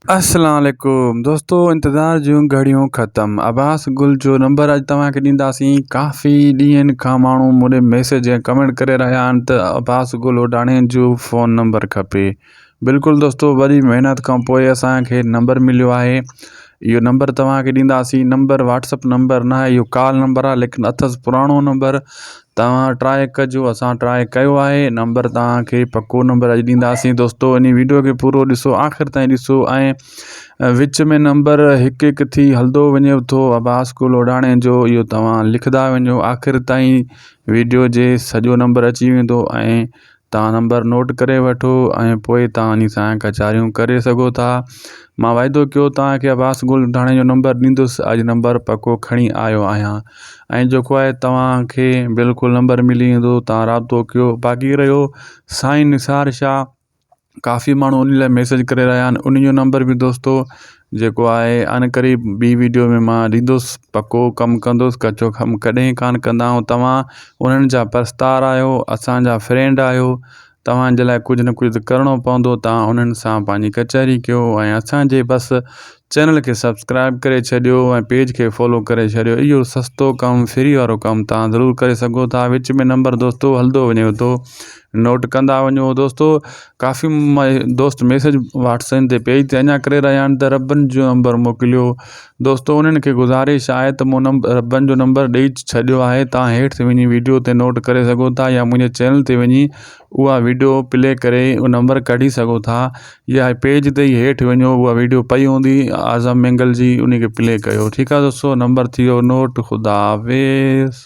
السلام عليڪم دوستو انتظار جون گهڙيون ختم عباس گل جو نمبر اڄ توهان کي ڏينداسين ڪافي ڏينهن کان ماڻهو مون ڏي ميسج ۽ ڪمينٽ ڪري رهيا آهن ته عباس گل اوڊاڻي جو فون نمبر کپي بلڪل دوستو وڏي محنت کان پوء اسان کي نمبر مليو آهي اهو نمبر توهان کي ڏينداسين نمبر واٽسپ نمبر نه آهي اهو ڪال نمبر آهي ليڪن اٿس پراڻو نمبر توهان ٽرائي ڪجو اسان ٽرائي ڪيو آهي نمبر توهان کي پڪو نمبر اڄ ڏينداسين دوستو ان ويڊيو کي پورو ڏسو آخر تائين ڏسو ۽ وچ ۾ نمبر هڪ هڪ ٿي هلندو وڃي ٿو عباس ڪو لوڊاڻي جو اهو توهان لکندا وڃو آخر تائين ويڊيو جي سڄو نمبر اچي ويندو ۽ توهان نمبر نوٽ ڪري وٺو ۽ پوء توهان انهي سان ڪچهريون ڪري سگهو ٿا. مان وعدو ڪيو توهان کي عباس گل مٺاڻي جو نمبر ڏيندس. اڄ نمبر پڪو کڻي آيو آهيان ۽ جيڪو آهي توهان کي بلڪل نمبر ملي ويندو. توهان رابطو ڪيو. باقي رهيو سائين نثار شاهه ڪافي ماڻهو انهي لاء ميسيج ڪري رهيا آهن انهي جو نمبر به دوستو جيڪو آهي عنقريب ٻي وڊيو ۾ مان ڏيندس پڪو ڪم ڪندس ڪچو ڪم ڪڏهن ڪانه ڪندا آهيون توهان انهن جا پرستار آهيو اسانجا فرينڊ آهيو توهانجي لاء ڪجهه نه ڪجهه ته ڪرڻو پوندو توهان انهن سان پنهنجي ڪچهري ڪيو ۽ اسانجي بس چينل کي سبسڪرائب ڪري ڇڏيو ۽ پيج کي فالو ڪري ڇڏيو اهو سستو ڪم فري وارو ڪم توهان ضرور ڪري سگهو ٿا وچ ۾ نمبر دوستو هلندو وڃيو ٿو نوٽ ڪندا وڃو دوستو ڪافي دوست ميسج واٽسن تي پيج تي اڃا ڪري رهيا آهن ته ربن جو نمبر موڪليو دوستو انهن کي گزارش آهي ته مون ربن جو نمبر ڏيئي ڇڏيو آهي تان هيٺ تي وڃي ويڊيو تي نوٽ ڪري سگهو ٿا يا منهنجي چينل تي وڃي اها ويڊيو پلي ڪري اهو نمبر ڪڍي سگهو ٿا يا پيج تي ئي هيٺ وڃو اها ويڊيو پئي هوندي اعظم مينگل جي ان کي پلي ڪيو ٺيڪ آهي دوستو نمبر ٿي ويو نوٽ خدا حافظ